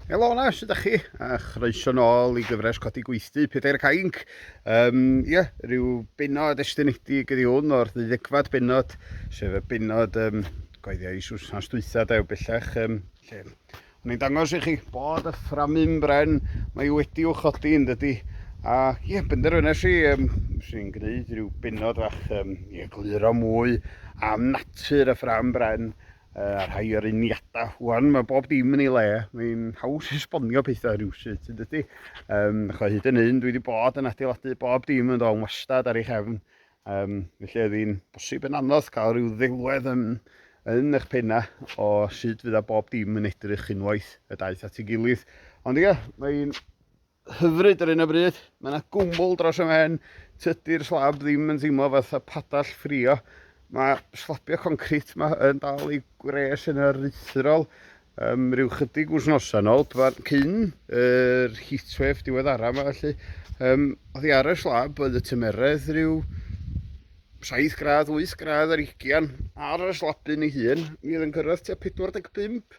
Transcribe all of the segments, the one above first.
Helo na, sydd â chi? A chroeso nôl i gyfres codi gweithdy, Pedair Cainc. Um, ie, rhyw benod estynedig ydi hwn o'r ddeuddegfad benod, sef y benod um, goeddiau i Susnas dwytha, dew bellach, um, lle Mae'n dangos i chi bod y fframu'n bren, mae wedi i'w chodi yn dydy. A ie, yeah, benderfynes i, um, sy'n gwneud rhyw benod fach um, ie, gluro mwy am natur y ffram bren uh, a rhai o'r uniadau. Wan, mae bob dim yn ei le, mae'n haws esbonio pethau rhywsut yn dydy. Um, Chwa hyd yn hyn, dwi wedi bod yn adeiladu bob dim yn ddo'n wastad ar ei chefn Um, felly oedd hi'n bosib yn anodd cael rhyw ddelwedd yn, yn eich penna o sut fydd a bob dim yn edrych unwaith y daeth at ei gilydd. Ond ie, mae'n hyfryd ar un o bryd, mae yna gwmwl dros y men, tydi'r slab ddim yn teimlo fatha padall ffrio. Mae slabio concrit yma yn dal ei gwres yn aruthrol, Um, rhyw chydig wythnosau yn ôl, cyn yr heatwave diweddara yma felly, um, oedd hi ar y slab, oedd y tymeredd rhyw 7 gradd, 8 gradd ar ugian ar y slabyn ei hun. Mi oedd yn cyrraedd tua 45.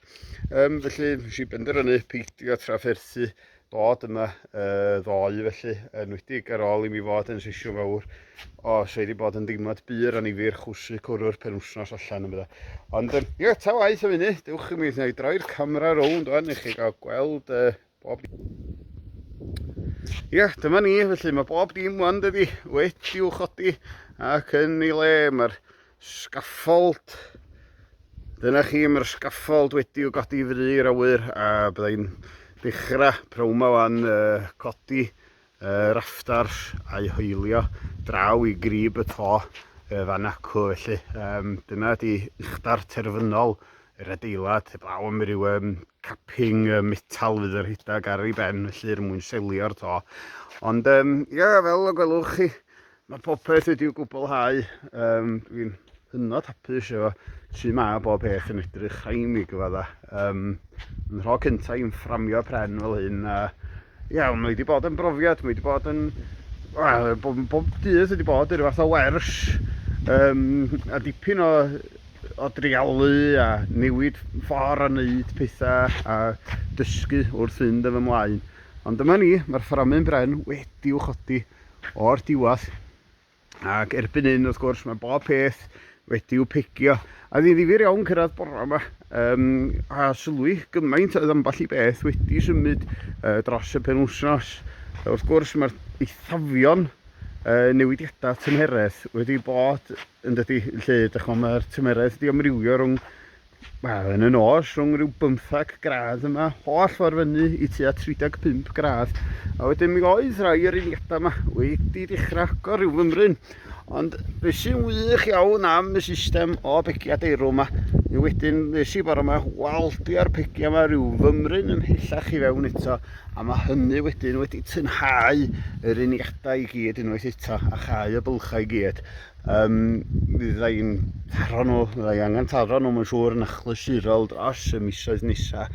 Um, felly, nes i benderfynu peidio trafferthu dod yma ddoe felly, enwedig ar ôl i mi fod yn sesiwn fawr o sydd wedi bod yn deimlad bur a nifyr chwsu cwrw'r penwsnos allan yma. Ond um, ie, ta waith am hynny, dewch i mi wneud droi'r camera rownd o'n i chi gael gweld uh, bob Ie, yeah, dyma ni, felly mae bob dim wan dydi, wedi'w chodi ac yn ei le, mae'r Scaffold. Dyna chi, mae'r scaffold wedi i'w godi i fri i'r awyr a byddai'n dechrau pnawn ma wan uh, codi uh, raftars a'i hoelio draw i grib y to uh, fan acw felly. Um, dyna di uchdar terfynol yr adeilad, heblaw am ryw um, capping uh, metal fydd yr hydag ar ei ben, felly er mwyn selio'r to. Ond, um, ia, fel y gwelwch chi, Mae popeth wedi'w gwblhau. Um, Dwi'n hynod hapus efo su mae bob peth yn edrych rhaid mi gyfadda. Um, yn rho cynta i'n fframio pren fel hyn. A, ia, mae wedi bod yn brofiad, mae wedi bod yn... Wel, bob, bob dydd wedi bod yn fath o wers. Um, a dipyn o, o drialu a newid ffordd o wneud pethau a dysgu wrth fynd yn fy mlaen. Ond dyma ni, mae'r fframu'n bren wedi'w chodi. o'r diwedd. Ac erbyn hyn, wrth gwrs, mae bob peth wedi'w pegio. A ddi ddifur iawn cyrraedd bora yma, um, a sylwi gymaint oedd ambell i beth wedi symud uh, dros y penwsnos. Wrth gwrs, mae'r eithafion uh, newidiadau tymheredd wedi bod yn dydy lle, dychmyg mae'r tymheredd wedi amrywio rhwng Wel, yn y nos, rhwng rhyw bymthag gradd yma, holl ffordd fyny i tua 35 gradd. A wedyn mi oedd rhai o'r uniadau yma wedi dechrau agor rhyw fymryn. Ond beth sy'n wych iawn am y system o begiau deirw yma, mi wedyn nes i bore yma waldi ar pegiau yma rhyw fymryn ymhellach i fewn eto, a mae hynny wedyn wedi tynhau yr uniadau i gyd unwaith eto, a chau y bylchau i gyd. Um, mi ddau yn taro nhw, mi ddau angen taro nhw, mae'n siŵr yn achlysurol dros y misoedd nesa.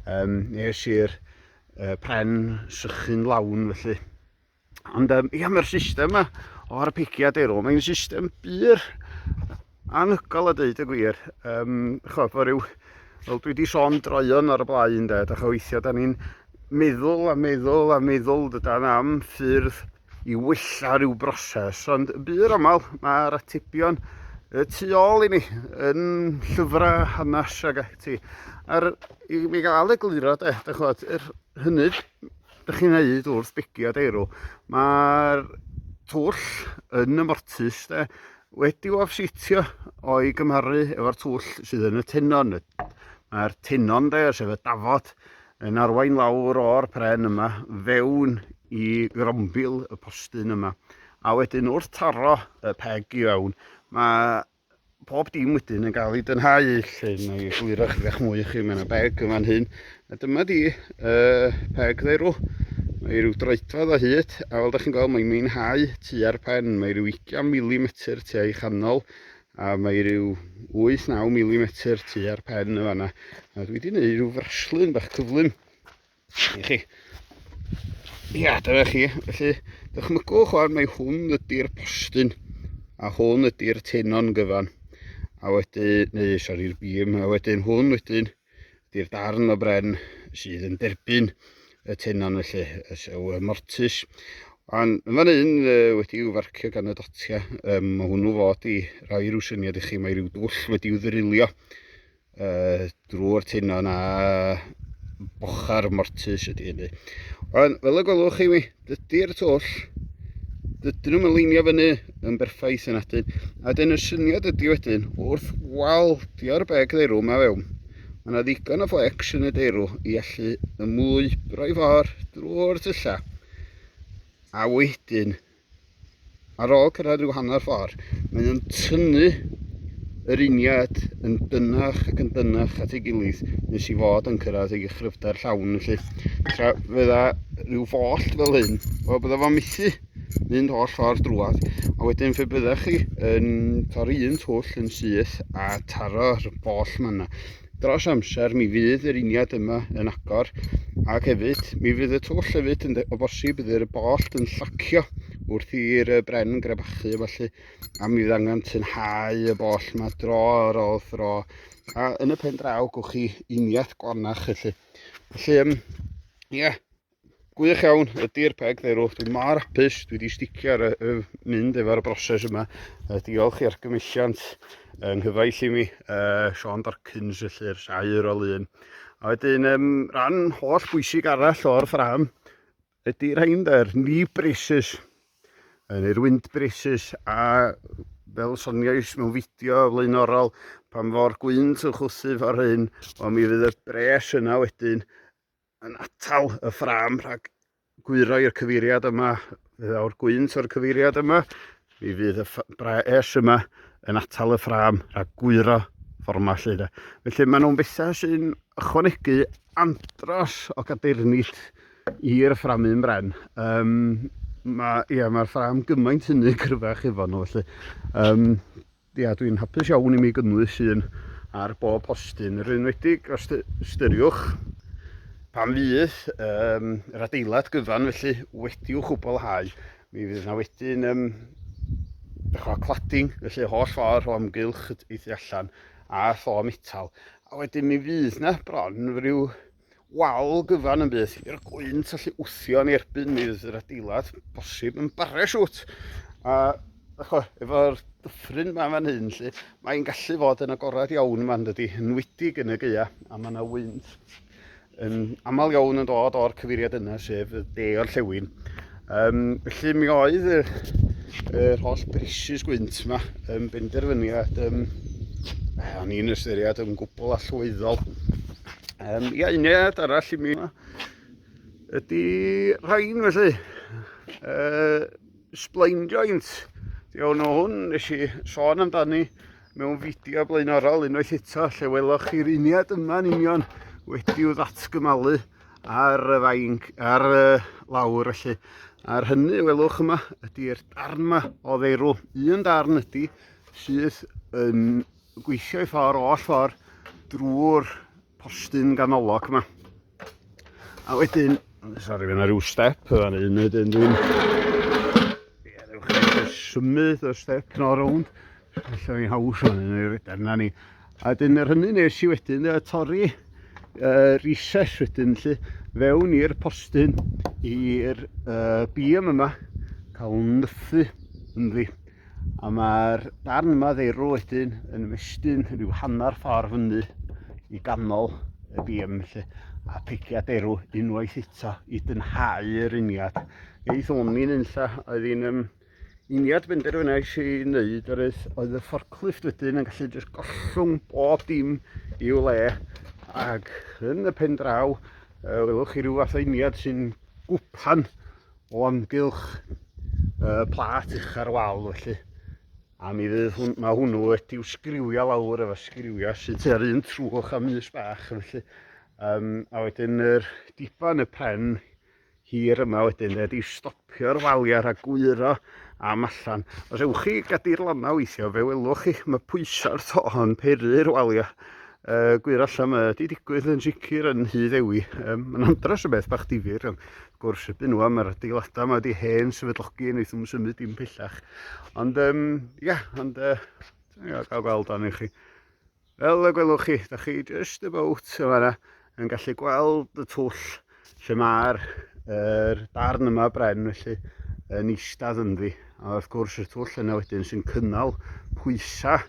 Um, nes i'r uh, pren sychu'n lawn felly. Ond um, ia, mae'r system yma o'r pigiad erw. Mae'n system byr anhygol a dweud y gwir. Um, cho, fo ryw, fel dwi wedi sôn droion ar y blaen, de, da cha weithio, da ni'n meddwl a meddwl a meddwl dydan am ffyrdd i wella rhyw broses, ond yn bur aml mae'r atebion y tu ôl i ni yn llyfrau hanes ag ati. A'r, i mi gael egluro, de, da chwad, yr hynny da chi'n neud wrth begi a deirw, mae'r twll yn y mortus de, wedi o sitio o'i gymharu efo'r twll sydd yn y tenon. Mae'r tenon de, sef y dafod, Yn arwain lawr o'r pren yma fewn i grombil y postyn yma. A wedyn wrth taro y peg i fewn, mae pob dim wedyn yn cael ei dynhau lle mae egluro chyfeach mwy i chi. Mae yna beg yn fan hyn. A dyma di uh, peg dderw. Mae rhyw droedfedd o hyd, a fel da chi'n gweld mae'n meinhau tua'r pen. Mae rhyw 20 milimetr tu a'i chanol, A mae rhyw 8-9 milimetr tu ar pen y fanna. A dwi wedi gwneud rhyw fraslun bach cyflym i chi. Ia, dyna chi. Felly, dychmygwch o'n mae hwn ydy'r postyn a hwn ydy'r tenon gyfan. A wedyn, neu sori'r bîm, a wedyn hwn wedyn Ydy'r darn o bren sydd yn derbyn y tenon felly, y sew y mortis. Ond yn fan hyn wedi i'w farcio gan y dotia, um, mae hwnnw fod i roi rhyw syniad i chi, mae rhyw dwll wedi i'w ddrilio uh, drwy'r tenon a bochar mortis ydy hynny. Ond fel y gwelwch chi mi, Dydy'r twll, dydyn nhw'n mynleinio fyny yn berffaith yn adyn. A dyn y syniad ydy wedyn, wrth waldio'r beg ddeirw mae fewn, mae yna ddigon o flex yn y deirw i allu ymwybro'i for drwy'r tyllau. A wedyn, Ar ôl cyrraedd rhyw hanner ffordd, mae nhw'n tynnu yr uniad yn dynach ac yn dynach at ei gilydd nes i fod yn cyrraedd ei chryfder llawn felly. Tra fydda rhyw foll fel hyn, o bydda fo'n mithu mynd holl ffordd drwad a wedyn fe bydda chi yn torri un twll yn syth a taro'r foll manna. Dros amser mi fydd yr uniad yma yn agor ac hefyd mi fydd y twll hefyd yn o bosib bydd yr bollt yn llacio wrth i'r bren grebachu felly a mi fydd angen tynhau y boll yma dro ar ôl thro a yn y pen draw gwch chi uniaith glanach felly. Felly, um, ie, yeah, Gwych iawn, ydy'r peg dderw. Dwi mor hapus, dwi wedi sticio ar y, mynd efo'r broses yma. Uh, diolch i'r gymilliant yng nghyfaill i mi, uh, Sean Dorkins, felly'r saer o lun. A wedyn, um, rhan holl bwysig arall o'r ffram ydy rhain dde'r ni braces, neu'r wind braces, a fel soniais mewn fideo flaenorol, pan fo'r gwynt yn chwthu fo'r hyn, ond mi fydd y bres yna wedyn yn atal y ffram rhag gwyro i'r cyfeiriad yma, fe ddaw'r gwynt o'r cyfeiriad yma, mi fydd y braes yma yn atal y ffram a gwyro fforma lle de. Felly maen nhw'n bethau sy'n ychwanegu andros o gadeirnit i'r ffram un bren. Um, Mae'r ma, ia, ma ffram gymaint hynny cryfach efo nhw felly. Um, Ia, dwi'n hapus iawn i mi gynnwys un ar bob postyn, yr enwedig os ystyriwch pan fydd um, yr adeilad gyfan felly wedi'w chwblhau. Mi fydd yna wedyn um, dechrau cladding, felly holl ffordd o amgylch y tu allan a tho metal. A wedyn mi fydd yna bron rhyw wal gyfan yn bydd i'r gwynt allu wthio yn erbyn mi fydd yr adeilad bosib yn baresiwt a efo'r dyffryn ma fan hyn lle mae'n gallu fod yn agored iawn ma'n dydi enwedig yn y gaea a mae yna wynt yn aml iawn yn dod o'r cyfeiriad yna sef y de o'r llewyn Um, felly mi oedd yr, yr holl brisys gwynt yma yn benderfyniad um, eh, o'n i'n ystyried yn gwbl allweddol. Um, ia, uniad arall i mi yma ydy rhain felly. Uh, splain joint. Iawn o hwn, nes i sôn amdani mewn fideo blaenorol unwaith eto lle weloch chi'r uniad yma'n union wedi'w ddatgymalu ar y fainc, ar y lawr felly. Ar hynny, welwch yma, ydy'r darn yma o ddeirw. Un darn ydy sydd yn gweithio i ffordd oll ffordd drwy'r postyn ganolog yma. A wedyn, sori, fe yna rhyw step yna, un wedyn dwi'n... Ie, rhywch symud y step yno rownd. Felly mi haws hwn yn yr edrych na ni. A dyn yr hynny nes i wedyn y torri y recess wedyn lle fewn i'r postyn i'r uh, bîm yma cael nythu ynddi. A mae'r darn yma ddeirw wedyn yn ymestyn rhyw hanner ffordd fyny i ganol y bîm lle a piciad erw unwaith eto i dynhau yr uniad. Eith o'n i'n unlla oedd hi'n um, Uniad benderfynais i wneud yr eith oedd y fforclift wedyn yn gallu jyst gollwng bob dim i'w le ac yn y pen draw uh, welwch chi rhyw fath o uniad sy'n gwpan o amgylch uh, plat uch ar wal felly a mi fydd hwn, mae hwnnw wedi'w sgriwio lawr efo sgriwio sy'n tua'r un trwch am ys bach felly um, a wedyn yr diban y pen hir yma wedyn de, di stopio'r waliau rhag gwyro am allan. Os ewch chi gadir lona weithio, fe welwch chi, mae pwysau'r to yn peru'r waliau. Uh, gwir allan mae wedi digwydd yn sicr yn hyd ewi. Um, mae'n andros o beth bach difyr, ond gwrs y byn nhw am yr adeiladau mae wedi hen sefydlogi yn eithaf symud dim pellach. Ond, um, ia, yeah, ond, uh, ia, gael gweld arni chi. Fel y gwelwch chi, da chi just about yn fanna yn gallu gweld y twll lle mae'r er darn yma bren felly yn eistedd ynddi. A wrth gwrs y twll yna wedyn sy'n cynnal pwysa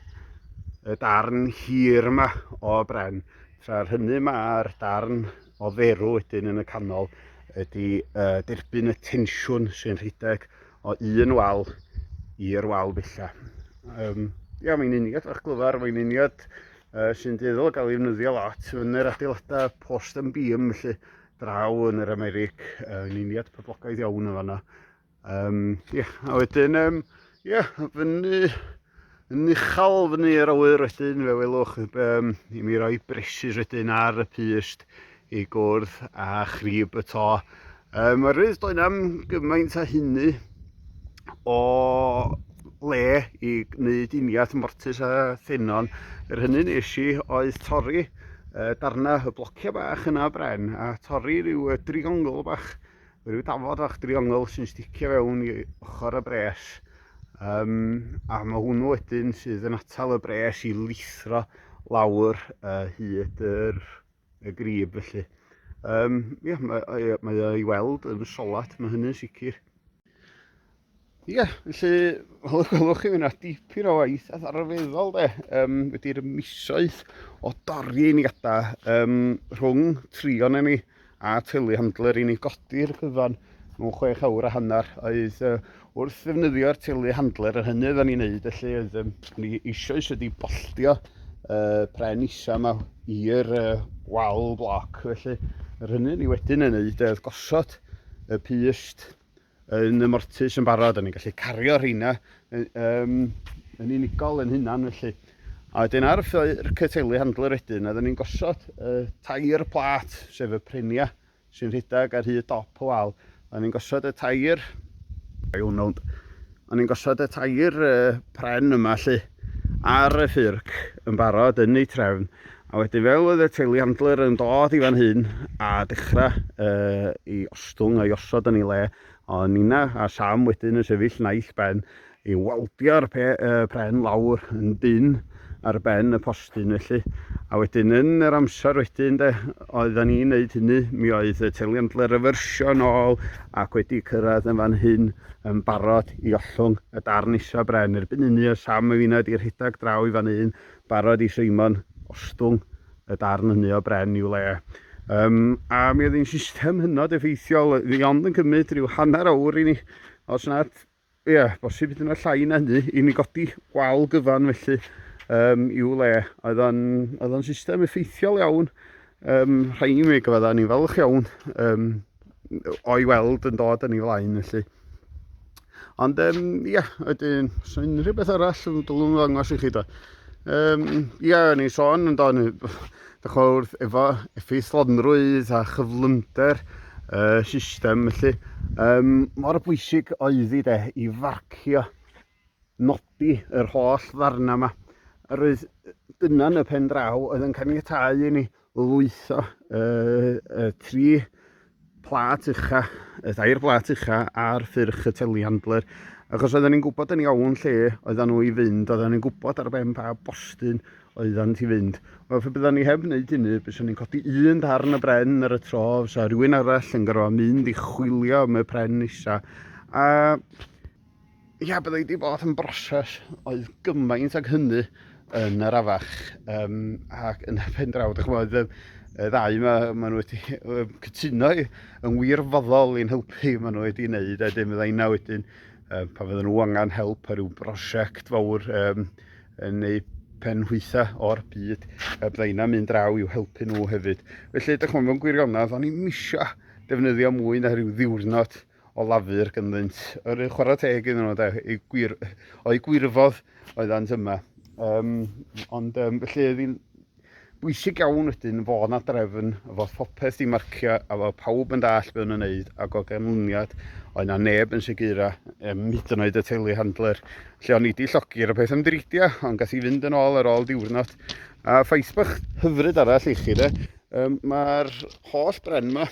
y darn hir yma o bren. Tra'r hynny mae'r darn o dderw wedyn yn y canol ydy uh, derbyn y tensiwn sy'n rhedeg o un wal i'r wal bella. Um, ia, mae'n uniad o'ch glyfar, mae'n uniad uh, sy'n dueddol gael ei wnyddio lot yn yr adeiladau post yn bîm, felly draw yn yr Americ, uh, yn uniad poblogaidd iawn yn fanna. Um, yeah, a wedyn, um, yeah, fyny Yn uchel fyny yr awyr wedyn, fe welwch um, i mi roi bresys wedyn ar y pyst i gwrdd a chrib y to. Um, Mae'r rydd doedd am gymaint a hynny o le i wneud uniath mortis a thenon. Yr hynny nes i oedd torri uh, darna y blocio bach yna bren a torri rhyw uh, driongl bach Rhyw dafod fach driongl sy'n sticio fewn i ochr y bres. Um, a mae hwnnw wedyn sydd yn atal y bres i lithro lawr uh, hyd yr, y grib felly. Um, ia, mae, mae o'i weld yn solat, mae hynny'n sicr. Ie, yeah, felly, fel y gwelwch chi, fyna dipyn o waith a ddarfeddol de, um, wedi'r misoedd o dorri i ni gada um, rhwng trion i ni a tylu handler i ni godi'r cyfan mewn chwech awr a hanner oedd uh, wrth ddefnyddio'r tylu handler yr hynny oedden ni'n neud felly oedd um, ni eisoes wedi bolltio uh, pren isa yma i'r uh, wal bloc felly yr hynny ni wedyn yn neud oedd gosod y pyst yn y mortus yn barod, o'n i'n gallu cario rheina um, yn unigol yn hunan felly. A wedyn ar y cytelu handler wedyn, oeddwn ni'n gosod uh, tair plat, sef y prenia sy'n rhedeg ar hyd dop y wal. Oeddwn ni'n gosod y tair, I don't know, O'n i'n gosod y tair pren yma lle ar y ffyrc yn barod yn ei trefn a wedyn fel oedd y teiliandler yn dod i fan hyn a dechrau uh, i ostwng a'i osod yn ei le a Nina a Sam wedyn yn sefyll naill ben i waldio'r uh, pren lawr yn dyn ar ben y dyn felly. A wedyn yn yr amser wedyn de, oedden ni'n neud hynny, mi oedd y teliant leryfyrsio yn ôl ac wedi cyrraedd yn fan hyn yn barod i ollwng y darn isa bren. Erbyn hynny o Sam y fina wedi rhedeg draw i fan hyn, barod i Simon ostwng y darn hynny o bren i'w le. Um, a mi oedd hi'n system hynod effeithiol, fi ond yn cymryd rhyw hanner awr i ni, os nad Ie, bosib hyd yn oed llai na hynny, i ni godi wal gyfan felly um, i'w le. Oedd o'n system effeithiol iawn, um, rhaid i mi gyfa dda, ni'n falch iawn um, o'i weld yn dod yn ei flaen felly. Ond ie, um, yeah, ydyn, os yna unrhyw beth arall yn dylwn ddangos i chi da. Um, ie, yeah, ni sôn yn dod, Dach ch'mod wrth efo effeithlonrwydd a chyflymder y system felly um, mor bwysig oedd i de i farcio nodi yr holl ddarna yma. A roedd dyna yn y pen draw oedd yn caniatau i ni lwytho uh, y tri Plât ucha, y tair blât ucha ar ffyrch y telehandler, achos oedden ni'n gwybod yn iawn lle oedden nhw i fynd, oedden ni'n gwybod ar ben pa bostyn oedden ti fynd. Wel, fe bydden ni heb wneud hynny, byswn ni'n codi un darn y bren ar y tro, fysa rhywun arall yn gorfod mynd i chwilio am y pren nesa. A Ia, byddai wedi bod yn broses oedd gymaint ag hynny yn yr afach. Um, ac yn y pen draw, dwi'n chymod, y ddau yma, maen nhw wedi cytuno yn wirfoddol i'n helpu, maen nhw wedi wneud, a dim fydda inna wedyn, um, pa fydden nhw angen help ar ryw brosiect fawr um, yn eu pen hwytha o'r byd, a bydda inna mynd draw i'w helpu nhw hefyd. Felly, dwi'n chymod, mewn gwirionedd, o'n i'n misio defnyddio mwy na rhyw ddiwrnod o lafur gynddynt. Yr un chwarae teg iddyn nhw, de, eu gwir, o'u gwirfodd oeddant yma. Um, ond um, felly oedd hi'n bwysig iawn wedyn fod na drefn fod popeth i marcio a fod pawb yn dall be o'n yn neud ac o ganlyniad oedd na neb yn segura um, hyd yn oed y teulu handler lle o'n i wedi llogi ar y peth ymdreidio ond gath i fynd yn ôl ar ôl diwrnod a ffaith bach hyfryd arall i chi de Um, Mae'r holl bren yma,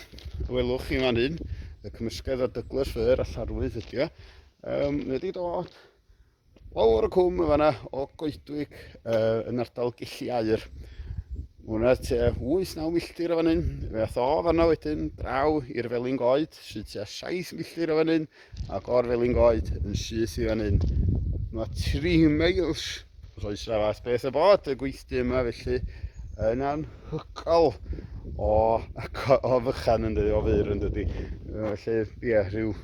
y welwch chi fan hyn, y cymysgedd o Douglas Fir a Llarwydd ydy o, um, wedi dod lawr y cwm y fanna o Goedwig uh, yn ardal Gelli Air. Mae hwnna te 8-9 milltir o fan hyn. Fe ath o fanna wedyn draw i'r Felin Goed sydd te 7 milltir o fan hyn. Ac o'r Felyngoed yn syth i fan hyn. Mae 3 miles os oes na fath beth y bod y gweithdy yma felly yn anhygoel o, o fychan yn dydi, o fyr yn dydi. Felly, ie, yeah, rhyw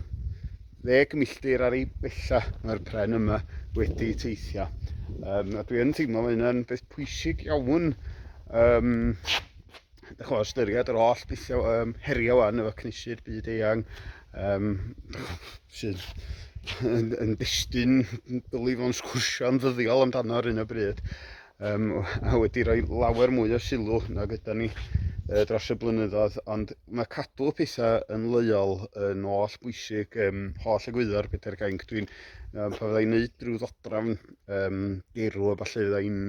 ddeg milltir ar ei bella mae'r pren yma wedi teithio. Um, a dwi yn teimlo mae hynna'n beth pwysig iawn um, Dych chi'n ystyried yr holl bethau um, heriau wan efo cnesu'r byd eang um, sydd yn, yn destun belief o'n sgwrsio'n ddyddiol amdano ar un o bryd um, a wedi rhoi lawer mwy o sylw na gyda ni uh, dros y blynyddoedd ond mae cadw pethau yn leiol yn oll bwysig um, holl egwyddor Peter Cainc dwi'n um, pa fyddai'n neud rhyw ddodrafn um, gerw a falle fyddai'n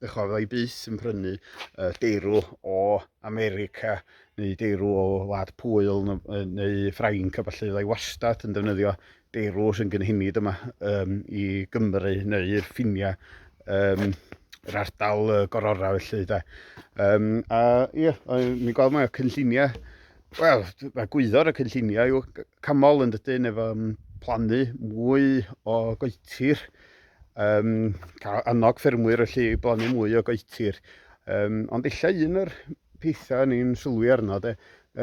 Dych chi'n rhoi byth yn prynu uh, deirw o America neu deirw o wlad pwyl neu Ffrainc a falle fyddai wastad yn defnyddio deirw sy'n gynhenid yma um, i Gymru neu i'r ffiniau um, yr ardal uh, gorora felly da. Um, a ie, yeah, mi'n gweld mae cynlluniau, wel, mae gwyddor y cynlluniau yw camol yn dydyn efo um, plannu mwy o goetir, um, cael annog ffermwyr felly i blannu mwy o goetir. Um, ond illa un o'r pethau ni'n sylwi arno, de,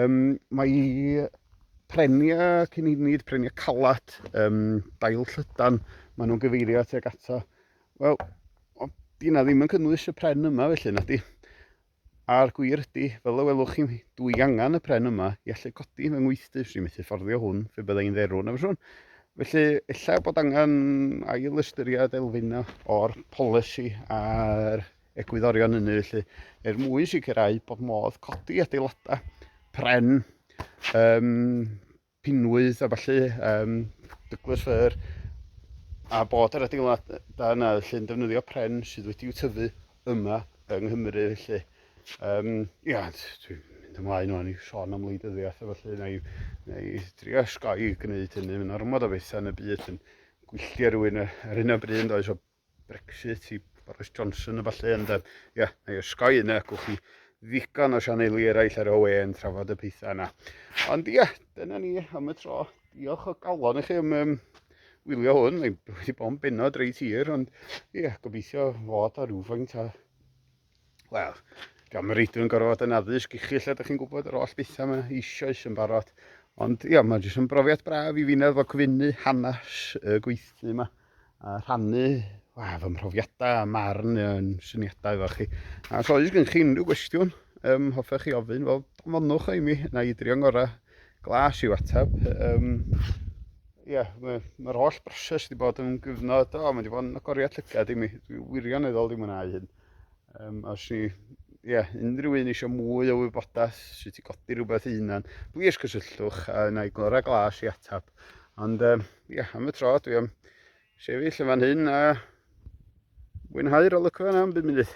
um, mae prenia cynunid, prenia calad, um, dail llydan, maen nhw'n gyfeirio at ag ato. Wel, dyna ddim yn cynnwys y pren yma felly, na di. A'r gwir ydi, fel y welwch chi, dw i angen y pren yma i allu codi fy ngweithdy, 'swn i'n methu fforddio hwn phe bydda i'n dderw, na fyswn? Felly, ella bod angen ail ystyried elfyn o'r polisi a'r egwyddorion hynny felly, er mwyn sicrhau bod modd codi adeiladau pren um, pinwydd a ballu, um, Douglas Fir, a bod yr adeilad da yna felly yn defnyddio pren sydd wedi'w tyfu yma yng Nghymru felly. Um, ia, dwi'n mynd ymlaen o'n i sôn am wleidyddiaeth a felly na i, na i drio sgoi gwneud hynny, mae'n ormod o bethau yn y byd yn gwylltio rhywun ar hyn o bryd yn does o Brexit i Boris Johnson a falle ond um, yeah, na i osgoi yna, gwch chi ddigon o sianeli eraill ar OE yn trafod y pethau yna. Ond ia, yeah, dyna ni am y tro. Diolch o galon i chi am um, wylio hwn, mae wedi bod yn benod reit hir, ond ie, yeah, gobeithio fod o rhywfaint o Wel, gan mae reidw yn gorfod yn addysg i chi lle ydych chi'n gwybod yr oll bethau yma eisoes yn barod. Ond ia, mae jyst yn brofiad braf i fi'n efo cyfynnu hanes y gweithlu yma a rhannu wa, fy mhrofiadau a marn yn syniadau efo chi. A os oes gen chi unrhyw gwestiwn, um, hoffech chi ofyn, wel, anfonwch o i mi, na i drio'n ngorau Glas i'w ateb. Um, ie, mae'r ma holl broses wedi bod yn gyfnod, o, mae wedi bod yn agoriad llygad i mi. Dwi wirioneddol wedi mwynhau hyn. Um, os ni, ie, yeah, unrhyw un eisiau mwy o wybodaeth sut i godi rhywbeth i hunan, plis cysylltwch a yna i glora glas i atab. Ond, ie, um, yeah, am y tro, dwi am sefyll yn fan hyn a mwynhau'r olygfa yna am bum munud.